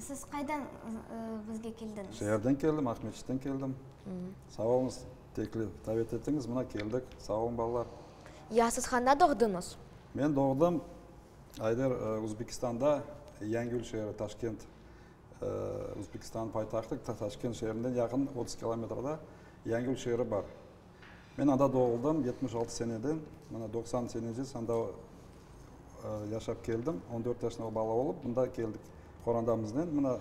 Siz qaydan bizge keldiñiz? Şeerden keldim, Aqmescitten keldim. Sağ oluñız, teklif, davet ettiñiz, mına keldik. Sağ oluñ, balalar. Ya siz qanda doğduñız? Men doğdım, Ayder, Uzbekistanda, Yangül şeeri, Taşkent, Uzbekistanıñ paytahtı, Taşkent şeerinden yaqın, otuz kilometrda Yangül şeeri bar. Men anda doğuldım, yetmiş altı senede, mana doqsan seneci sanda yaşap keldim. On dört yaşında bala olıp, mında keldik qorandamıznen. Mına,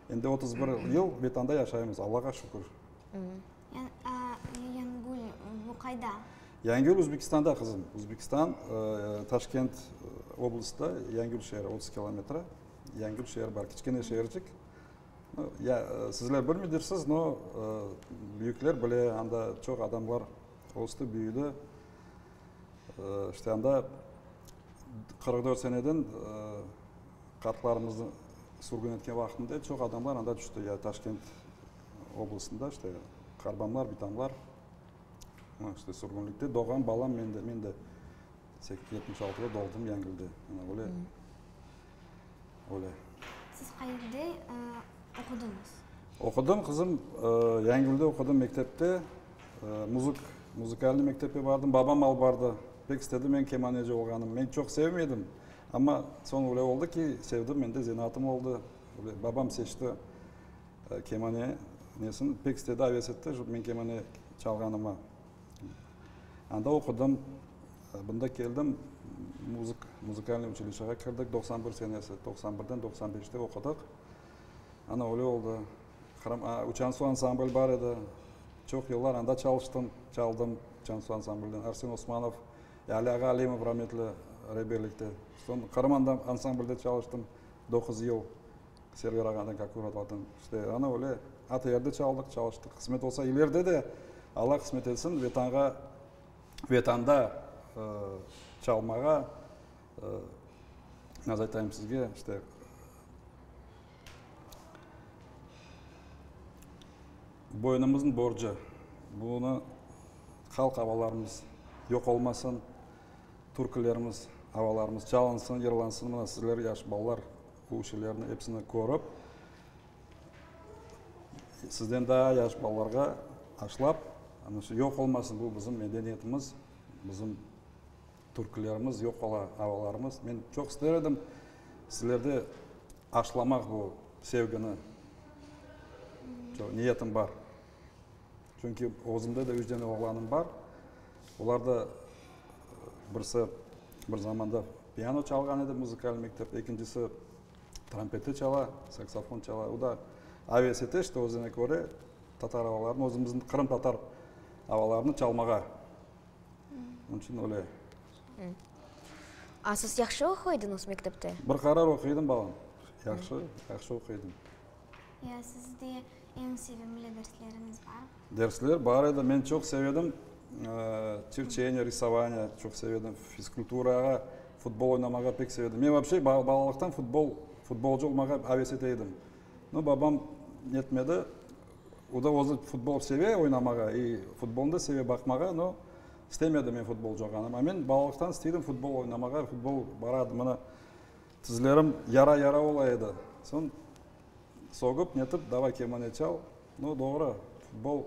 endi otuz bir yıl Betanda yaşaymız, Allağa şükür. Yangül, bu qayda? Yangül, Özbekistanda, qızım. Özbekistan, Taşkent oblastında Yangül şeeri, otuz kilometre Yangül şeeri bar, kiçkene şeercik. Ya, sizler bilmidirsiz, no, büyükler bile, anda çoq adamlar östü, büyüdi. İşte, anda qırq dört seneden qartlarımıznı sürgün etken vaqtında çoq adamlar anda tüşti, ya Taşkent oblastında, işte, qarbamlar, bitamlar. Mına, işte, sürgünlikte doğğan balam men de, men de yetmiş altıda doğdum Yangülde. Mına böyle. Öyle. Siz qayerde oqudıñız? Oqudım, qızım, Yangülde oqudım, mektepte. Muzık, muzıkalnıy mektepke bardım. Babam alıp bardı. Pek istedi men kemaneci olğanım. Men çoq sevmedim, amma soñ öyle oldı ki, sevdim, men de zenaatım oldı. Öyle, babam seçti kemane nesin, pek istedi, aves etti men kemane çalğanıma. Anda oqudım, bunda keldim, muzık, muzıkalnıy uçilişega kirdik, doqsan bir senesi, doqsan birden doqsan beşte oqudıq. Ana öyle oldı. Qırım, aa, Uçansu ansambl bar edi, çoq yıllar anda çalıştım, çaldım Uçansu ansamblden, Arsen Osmanov, Ali ağa Alimov rametli rebellikte. Soñ Qırım anda, ansamblde çalıştım doquz yıl. Server ağanıñ, kak uğratladın, işte, ana öyle, atı yerde çaldıq, çalıştıq, qısmet olsa ileride de, Alla qısmet etsin, Vetanğa, Vetanda çalmağa, nasıl aytayım sizge, işte, boynumıznıñ borcu, bunı halq avalarımız yoq olmasın, türkülerimiz, avalarımız çalınsın, yırlansın, mına sizler, yaş balalar, Bu şeylerni epsini körip, sizden daa yaş balalarğa aşlap, ana şu yoq olmasın bu bizim medeniyetimiz, bizim türkülerimiz yoq ola, avalarımız. Men çoq ister edim sizlerde aşlamaq bu sevgini. Çoq niyetim bar. Çünki özümde de üç dene oğlanım bar. Olar da, birisi bir zamanda piano çalğan edi, muzıkal mektepte, ekincisi trompeti çala, saksofon çala. O da avesete işte, özüne köre tatar avalarını, özümizin qırımtatar avalarını çalmağa. Onıñ içün öyle. A siz yahşı oquydınız mektepte? Bir qarar oquydım, balam. Yahşı, yahşı oquydım. Ya, siz de Eñ sevimli dersleriñiz barmı? Dersler bar edi. Men çoq sevedim, çirçeniya, risovaniya çoq sevedim, fizkulturağa, futbol oynamağa pek sevedim. Men vapşe balalıqtan futbol, futbolcı olmağa aves ete edim. No, babam netmedi. O da özü futbol seve oynamağa i futbolnı da seve baqmağa, no, istemedi men futbolcı olğanım. A men balalıqtan isteydim futbol oynamağa, futbol baradı. Mına, tizlerim yara-yara ola edi. Soñ. Soğup netip davay kemane çal. No, doğru, futbol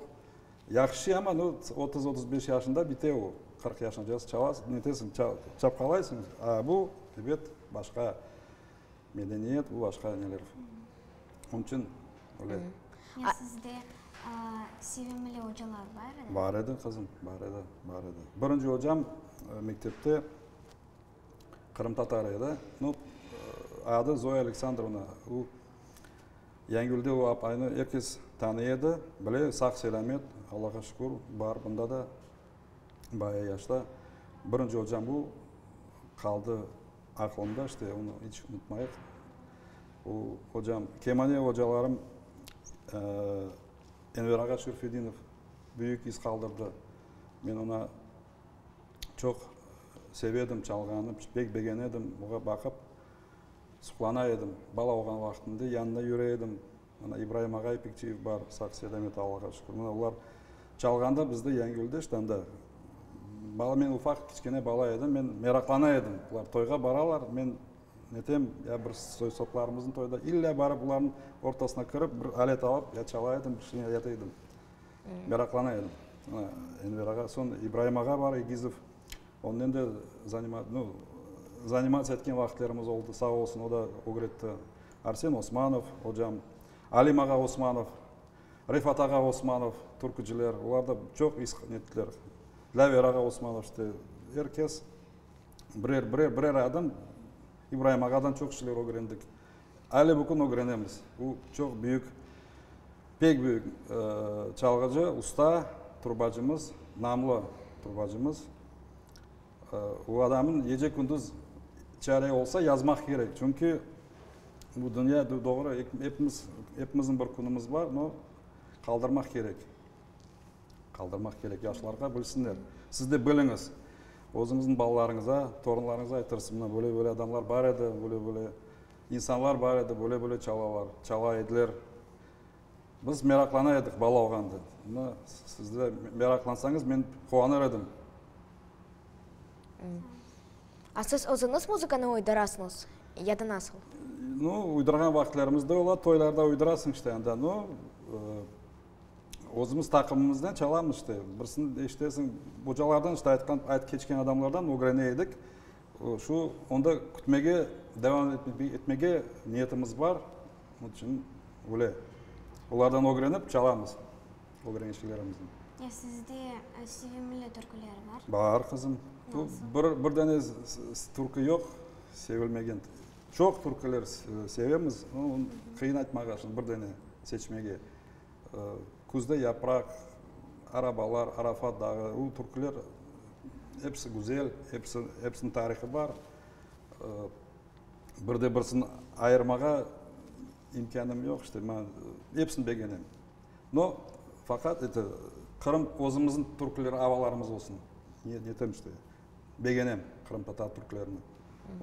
yahşı, ama no, otuz, otuz beş yaşında bite o. Qırq yaşına cez çalas, netesiñ, ça, çapqalaysıñ. A bu, ebet, başqa medeniyet, bu başqa neler. Onıñ içün böyle. Ya sizde, a, sevimli ocalar bar edi? Bar edi, qızım, bar edi, bar edi. Birinci ocam, e, mektepte. Qırımtatar edi. Nu, adı Zoya Aleksandrovna. O, Yangülde o apaynı er kes tanıy edi, bile, sağ-selâmet, Allağa şükür, bar bunda da, baya yaşta. Birinci ocam o, qaldı aqılımda, işte, onı iç unutmayıq. O ocam, kemane ocalarım, Enver ağa Şerfedinov büyük iz qaldırdı. Men oña çoq sevedim çalğanı, pek begenedim, oña baqıp suqlana edim. Bala olğan vaqtımda yanına yüre edim. Ana, İbraim ağa İpekçiyev bar, sağ-selamet, Allağa şükür. Mına olar çalğanda bizde Yangülde ştanda, bala, men ufaq, kiçkene bala edim, men meraqlana edim. Bular toyğa baralar, men netem, ya bir soy-soplarımıznıñ toyda, illa barıp, bularnıñ ortasına kirip, bir alet alıp, ya çala edim, bir şeyni ayata edim. Meraqlana edim. Enver ağa, soñ İbraim ağa bar, Egizov. Onnen de zanimatsiya etken vaqıtlarımız oldı, sağ olsun, o da ögretti. Arsen Osmanov ocam, Alim ağa Osmanov, Refat ağa Osmanov, türküciler, olar da çoq ettiler. Lâver ağa Osmanov, işte, er kes birer, birer, birer adım İbraim ağadan çoq şeyler ögrendik. Aile bugün ögrenemiz. O çoq büyük, pek büyük çalğıcı, usta turbacımız, namlı turbacımız. O adamın gece kündüz çare olsa yazmaq kerek. Çünki bu dünya doğru, hepimiz, hepimizin bir künümüz bar, no qaldırmaq kerek. Qaldırmaq kerek, yaşlarğa bilsinler. Siz de biliñiz, özüñizniñ balalarıñıza, torunlarıñıza aytırsız, mına, böyle-böyle adamlar bar edi, böyle-böyle insanlar bar edi, böyle-böyle çalalar, çala ediler. Biz meraqlana edik bala olğanda. Mına, siz de meraqlansañız, men quvanır edim. A siz özüñiz muzıkanı uydurasıñız ya da nasıl? No, uydurğan vaqıtlarımız da ola, toylarda uydurasıñ işte anda, no, Özümiz taqımımızdan çalamız işte. Birisini eşitesiñ, ocalardan işte aytqan, aytıp keçken adamlardan ögrene edik. Şu, onda kütmege, devam etmege niyetimiz bar. Onıñ içün öyle. Olardan ögrenip çalamız ögrenişlerimizden. Ya sizde sevimli türküler bar? Bar, qızım. Bu bir, bir dene türkü yoq, sevilmegen. Çoq türküler sevemiz, qıyın aytmağa şimdi bir dene seçmege. Küzde yapraq, arabalar, Arafat dağı, bu türküler episi güzel, episi, epsiniñ tarihı bar. Bir de birisini ayırmağa imkânım yoq, işte mañ, epsini begenem. No, faqat eti, Qırım özümizniñ türküleri, avalarımız olsun. Netem işte, begenem qırımtatar türkülerini,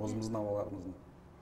özümizniñ avalarımıznı.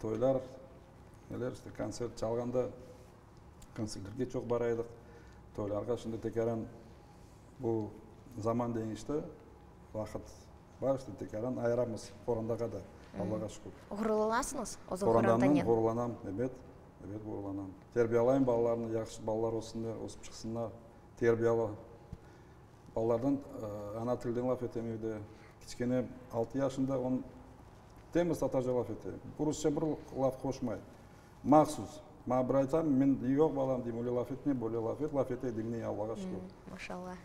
Toylar, neler işte, kontsert çalğanda kontsertlerge çoq bara edik. Toylarğa şimdi tekaran bu zaman deñişti, vaqıt bar işte, tekaran ayıramız qorandağa da, Allağa şükür. Ğururlanasıñız özüñ qorandanen? Qorandandan ğururlanam, ebet, ebet ğururlanam. Terbiyalayım balalarnı, yahşı balalar ötsünler, ösip çıqsınlar, terbiyalı. Balalardan ana tilden laf etemevde, kiçkene altı yaşında, on. Temiz tatarca laf ete, rusça bir laf qoşmay, mahsus. Maña bir ayta, men, yoq, balam, deyim, öyle laf etme, böyle laf et, laf ete, diñley, Allağa şükür. Maşallah.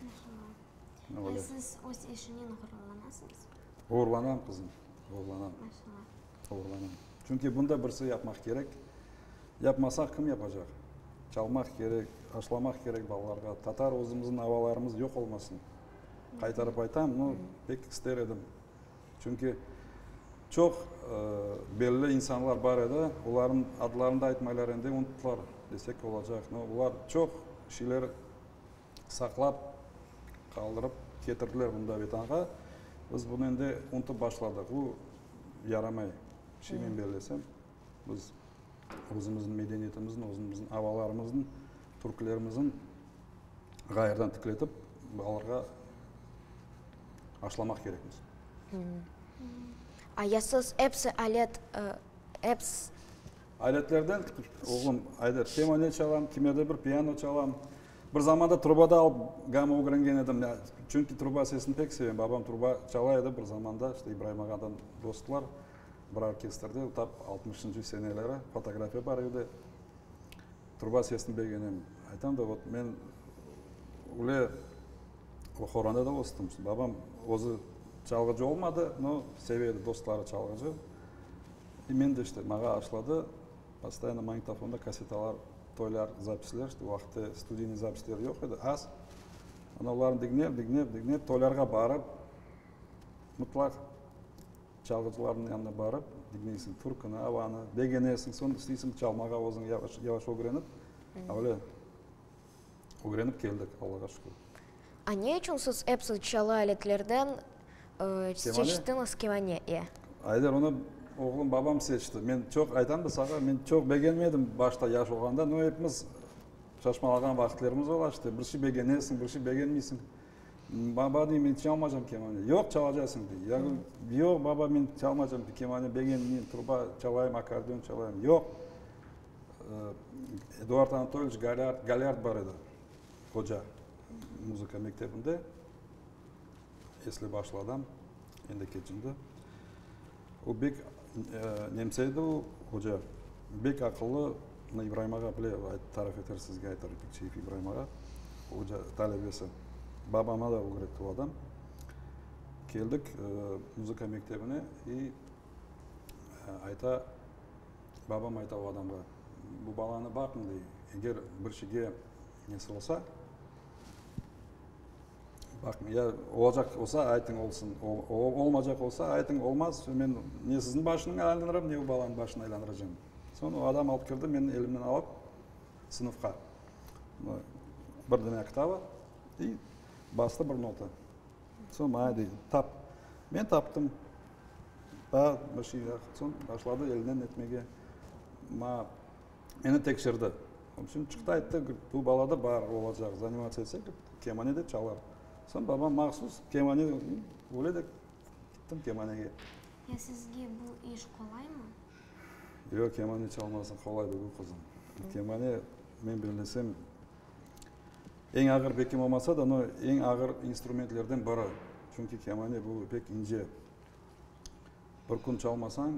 Maşallah. Ve siz öz eşinen ğururlanasıñız? Ğururlanam, qızım, ğururlanam. Maşallah. Ğururlanam. Çünki bunda birisi yapmaq kerek. Yapmasaq, kim yapacaq? Çalmaq kerek, aşlamaq kerek balalarğa. Tatar özümizniñ avalarımız yoq olmasın. Qaytarıp aytam, no, pek ister edim, Çünki çoq belli insanlar bar edi, olarnıñ adlarını da aytmaylar endi, unuttılar desek olacaq. No, olar çoq şeyler saqlap, qaldırıp ketirdiler bunda Vetanğa. Biz bunı endi unutıp başladıq. Bu yaramay, şeymen bellesem. Biz özümizniñ medeniyetimizniñ, özümizniñ avalarımızniñ, türklermizniñ ğayırdan tikletip, balalarğa aşlamaq kerekmiz. Ayasız, episi alet, episi. Aletlerden, oğlum, Ayder, kemane çalam, kime de bir piano çalam. Bir zamanda truba da alıp gama ögrengen edim. Çünki truba sesini pek sevem. Babam truba çala edi bir zamanda, işte İbrayım ağadan dostlar. Bir orkestrde tap altmışıncı seneleri fotografiya bar edi. Truba sesini begenem. Aytam da, vot men üyle o horonda da östüm. Babam özü çalğıcı olmadı, no seve edi dostları çalğıcı. E men de işte mağa aşladı. Postoyanno magnitofonda kassetalar, toylar, zapisler, işte o vaqıtta studiyniy zapisler yoq edi, az. Ana olarnı diñlep, diñlep, diñlep, toylarğa barıp, mıtlaq. Çalğıcılarnıñ yanına barıp diñleysiñ türküni, avanı, begenesiñ, soñ isteysiñ çalmağa özüñ yavaş-yavaş ögrenip, öyle ögrenip keldik, Allağa şükür. A ne içün siz epsiz çalı aletlerden seçtiñiz kemane? İe. Ayder, onı oğlum, babam seçti. Men çoq, aytam da saña, men çoq begenmedim başta, yaş olğanda, no, epimiz şaşmalağan vaqıtlarımız ola işte, bir şey begenesiñ, bir şey begenmeysiñ. Baba, dey, men çalmaycam kemane. Yoq, çalacaqsıñ, dey. Yagul, yoq, baba, men çalmaycam kemane, begen, men truba çalayım, akkordeon çalayım. Yoq, Eduard Anatolyiç Galâr, Galâr bar edi, hoca, muzıka mektebinde, esli-başlı adam, endi keçindi. O bek nemse edi o hoca, bek aqıllı, mına İbrahim ağa bile tarif eter sizge, aytar, Öpekçiyev İbrahim ağa, hoca talebesi. Babama da ögretti o adam. Keldik muzıka mektebine i ayta, babam ayta o adamğa, bu balanı baqıñ, dey, eger bir şeyge nesi olsa, Baqıñ, ya olacaq olsa, aytıñ olsun, olmayacaq olsa, aytıñ olmaz, men ne siziñ başınıñ aylandıram, ne o balanıñ başınıñ aylandıracam. Soñ o adam alıp kirdi, meni elimden alıp, sınıfqa, bir dana kitabı i bastı bir nota. Soñ maña dey, tap. Men taptım. Daa bir şey yoq. Soñ başladı elinden etmege. Maña. Meni tekşirdi. O biçün çıqtı, ayttı, bu bala da bar olacaq, zanimatsiya etse, kemane de çalar. Soñ babam mahsus kemane, öyle de gittim kemanege. Ya sizge bu iş qolaymı? Yoq, kemane çalması qolay degil, qızım. Kemane, men bellesem, eñ ağır, bekim olmasa da, no eñ ağır instrumentlerden biri. Çünki kemane bu pek ince. Bir kün çalmasañ,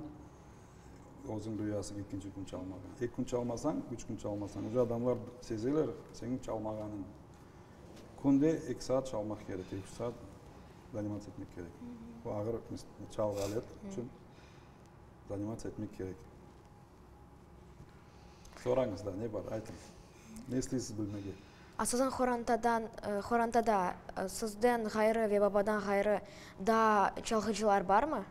özüñ duyasıñ, ekinci kün çalmadan. Eki kün çalmasañ, üç kün çalmasañ, uje adamlar sezeler señiñ çalmağanıñ. Künde eki saat çalmaq kerek, eki-üç saat zanimatsiya etmek kerek. Bu ağır çalğı alet içün zanimatsiya etmek kerek. Sorañız, daa ne bar, aytıñ. Ne isteysiz bilmege? Asasan qorantadan, qorantada sizden ğayrı ve babadan ğayrı daa çalğıcılar barmı?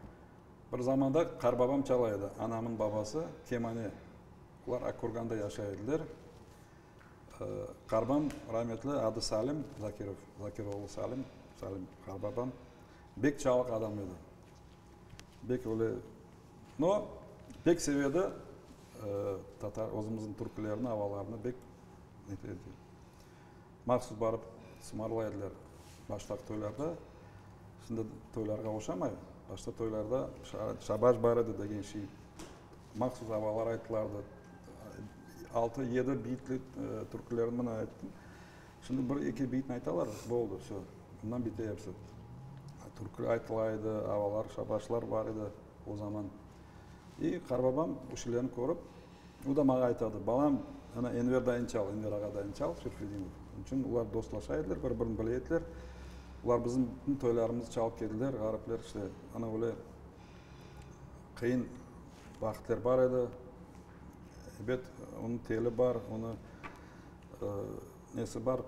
Bir zamanda qarbabam çala edi, anamın babası kemane. Olar Akkürganda yaşay ediler. Qarbam rametli adı Salim Zakirov, Zakir oğlu Salim, Salim qarbabam. Bek çalıq adam edi. Bek öyle. No, bek sevedi tatar, özümüzniñ türkülerini, avalarını bek neter edi. Mahsus barıp sumarlay ediler baştaq toylarda. Şimdi toylarğa oşamay. Başta toylarda şabaj bar edi degen şey. Mahsus avalar aytılardı. Altı, yedi biytli türkülerini mına ayttım. Şimdi bir eki beytni aytalar, boldı, vse, bundan bite episi. Türkü aytıla edi, avalar, şabaşlar bar edi o zaman. İ qarbabam o şeylerni körip, o da maña aytadı, balam, ana Enver dayını çal, Enver ağa dayını çal, Seyfedinov. Onıñ içün olar dostlaşa ediler, bir birini bile ediler. Olar bizim bütün toylarımızı çalıp kediler, ğaripler işte, ana öyle qıyın vaqıtlar bar edi. Ebet, onıñ teli bar, onı Nesi bar,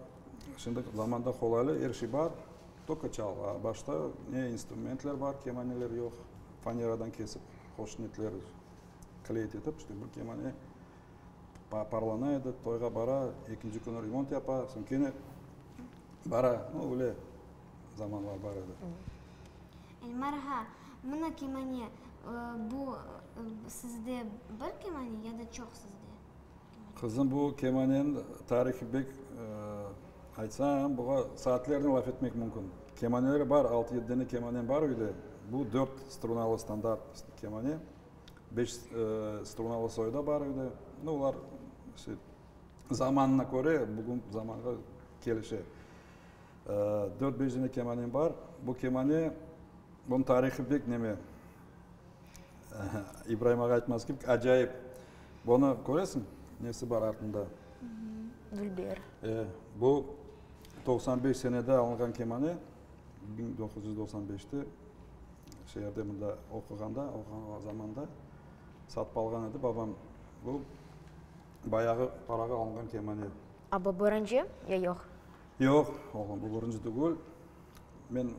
şimdiki zamanda qolaylı, er şey bar, toko çal. A başta ne instrumentler bar, kemaneler yoq, faneradan kesip, qoşnetler kleyt etip, işte bir kemane parlana edi, toyğa bara, ekinci künü remont yapa, soñ kene bara, no öyle zamanlar bar edi. Elmar ağa, mına kemane, bu sizde bir kemane ya da çoq sizde? Qızım, bu kemanen tarihı bek, aytsam, buğa saatlernen laf etmek mümkün. Kemaneler bar, altı-yedi dene kemanem bar öyde. Bu dört strunalı standart kemane, beş strunalı soy da bar öyde. No, olar zamanına köre, bugün zamanğa kelişe. Dört-beş dene kemanem bar. Bu kemane, bunıñ tarihı bek neme, İbraim ağa aytmaz ki, acayip. Bunı köresiñ, nesi bar artında? Dülber. E, bu toqsan beş senede alınğan kemane, biñ doquz yüz doqsan beşte şu yerde mında oquğanda, oquğan zamanda satıp alğan edi babam. Bu bayağı parağa alınğan kemane. A bu birinci ya yoq? Yoq, oğlum, bu birinci tügül. Men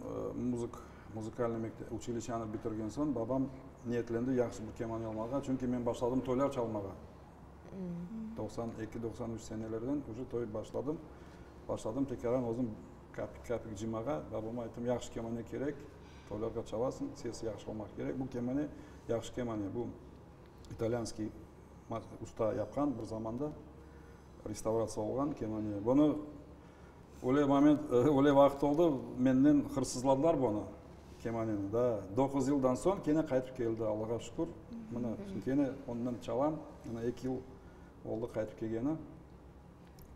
muzık, muzikalnıy mektep, uçiliçanı bitirgen soñ, babam niyetlendi yahşı bir kemanya almağa, çünki men başladım toylar çalmağa. Doqsan eki, doqsan üç senelerden uje toy başladım. Başladım tekaran özüm kapik, kapik cımağa. Babama ayttım, yahşı kemanya kerek, toylarğa çalasıñ, sesi yahşı olmaq kerek. Bu kemanya, yahşı kemanya, bu italyanskiy usta yapqan, bir zamanda restavratsiya olğan kemanya. Bunı Öyle moment, öyle vaqıt oldı, menden hırsızladılar bunı, kemaneni. Da, doquz yıldan soñ kene qaytıp keldi, Allağa şükür. Mına, şimdi kene ondan çalam, mına eki yıl oldı qaytıp kelgeni.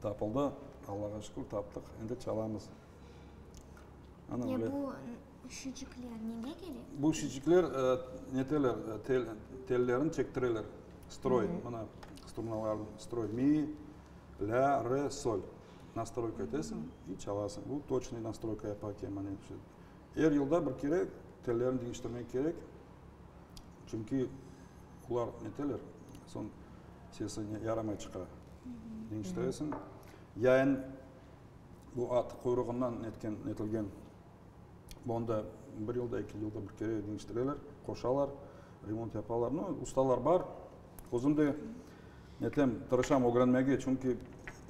Tapıldı, Allağa şükür, taptıq, endi çalamız. Ana öyle. Ya bu şişikler nege kere? Bu şişikler neteler, tellerin çektireler, stroy, mına, strunalarnı, stroy. Mi? La, re, sol. Nastroyka etesiñ, i çalasıñ. U toçnıy nastroyka yapa ki, mane, er yılda bir kere tellerni deñiştirmek kerek, çünki olar neteler, soñ sesi yaramay çıqa. Deñiştiresiñ. Yayın bu at quyruğından netken, netilgen, bunı da bir yılda, eki yılda bir kere deñiştireler, qoşalar, remont yapalar. Nu, ustalar bar. Özüm de netlem, tırışam ögrenmege, çünki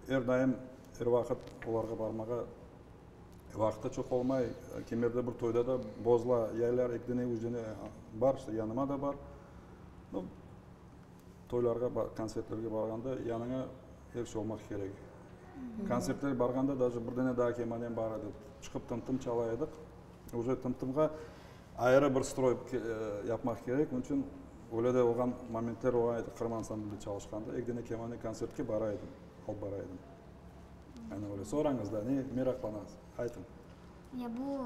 er daim, er vaqıt olarğa barmağa vaqıt da çoq olmay. Kimlerde bir toyda da bozla yaylar, eki dene, üç dene bar, işte yanıma da bar. No, toylarğa, kontsertlerge barğanda yanıña er şey olmaq kerek. Kontsertlerge barğanda daşı bir dene daa kemanem bar edi, çıqıp tım-tım çala edik. Üze tımtımğa ayrı bir stroy yapmaq kerek, onıñ içün öyle de olğan momentler olğan edi, Qırım ansamblinde çalışqanda, ek dene kemanıñ kontsertke bara edim, alıp bara edim. Yanı öyle. Sorañız da, ne meraqlanañız, aytıñ. Ya bu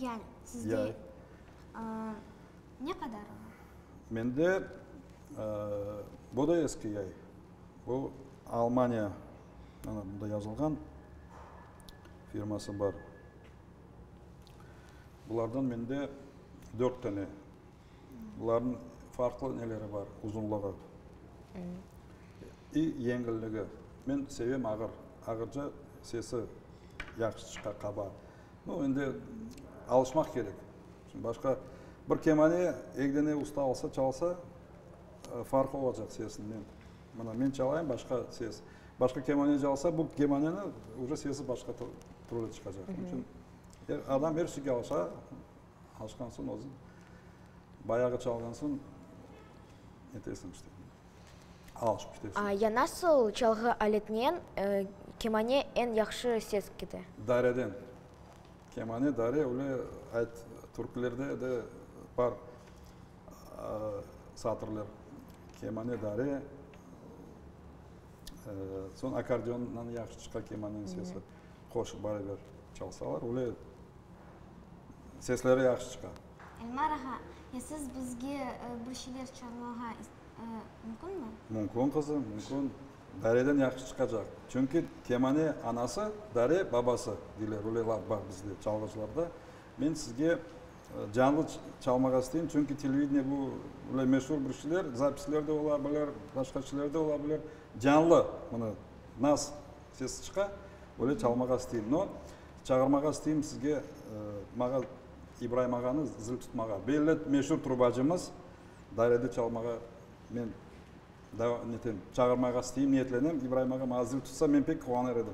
yay sizde ne qadar ola? Mende, bu da eski yay, bu Almaniya. Ana, bunda yazılğan, firması bar. Bulardan mende dört tane. Buların farqlı neleri bar, uzunlığı. İ, yengilligi. Men sevem ağır, ağırca sesi yahşı çıqa, qaba. Nu, endi alışmaq kerek. Başqa bir kemane, egne usta alsa, çalsa, farqı olacaq sesinden. Mına, men çalayım, başqa ses. Başqa kemane calsa, bu kemaneni uca sesi başqa türlü çıqacaq. Onıñ içün adam er şeyge alışa, alışqan soñ özü bayağı çalğan soñ netesin işte, alışıp ketesin. A ya nasıl çalğı aletinen kemane eñ yahşı ses kete? Dareden. Kemane, dare, öyle ayt, türkilerde de bar. Satırlar, kemane dare, soñ akkordeondan yahşı çıqa kemaneniñ sesi, qoşıp baraber çalsalar, öyle sesleri yahşı çıqa. Elmar ağa, ya siz bizge bir şeyler çalmağa mümkünmi? Mümkün, qızım, mümkün. Dareden yahşı çıqacaq. Çünki kemane anası, dare babası, deyler, öyle laf bar bizde, çalğıcılarda. Men sizge. Canlı çalmağa isteyim, çünki televideniye bu, böyle meşur bir şeyler, zapisler de ola bilir, başqa şeyler de ola bilir. Canlı, bunı nas sesi çıqa, böyle çalmağa isteyim. No, çağırmağa isteyim sizge, mağa İbraim ağanı zil tutmağa. Belli meşur trubacımız dairede çalmağa men netem, çağırmağa isteyim, niyetlenem. İbraim ağa mağa zil tutsa, men pek quvanır edim.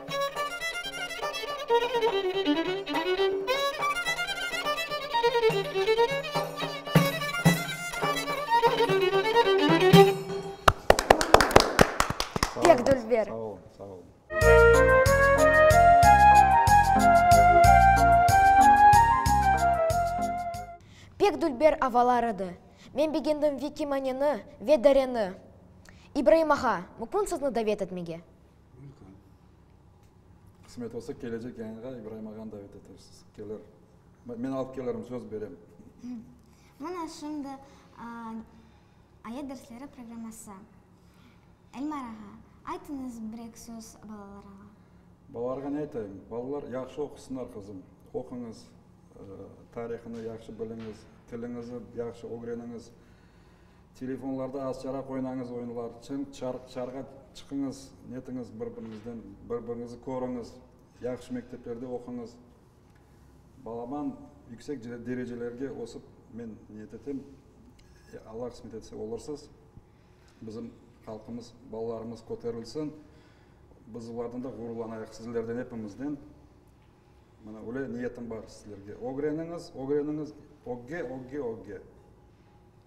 Pek dülber avalar edi. Men begendim Vikimaneni ve Dareni. İbraim ağa, mukün sizni davet etmege? Welcome. Qısmet olsa, kelecek yayınğa İbraim ağanı davet etersiz. Kelir. Men alıp kelirim, söz berem. Mına şimdi Ayet dersleri programması. Elmar ağa, aytıñız bir-eki söz balalarğa. Balalarğa ne aytayım? Balalar yahşı oqusınlar, qızım. Oquñız, tarihını yahşı biliñiz, tiliñizni yahşı ögreniñiz. Telefonlarda azçaraq oynañız oyunlar, çın çarğa çıqıñız, netiñiz bir-biriñizden, bir-biriñizi körüñiz, yahşı mekteplerde oquñız. Balaman yüksek derecelerge ösip, men niyet etem, Alla qısmet etse olursız, bizim halqımız, balalarımız köterilsin, biz olardan da ğururlanayıq, sizlerden, epimizden. Mına öyle niyetim bar sizlerge. Ögreniñiz, ögreniñiz, ögge, ögge, ögge!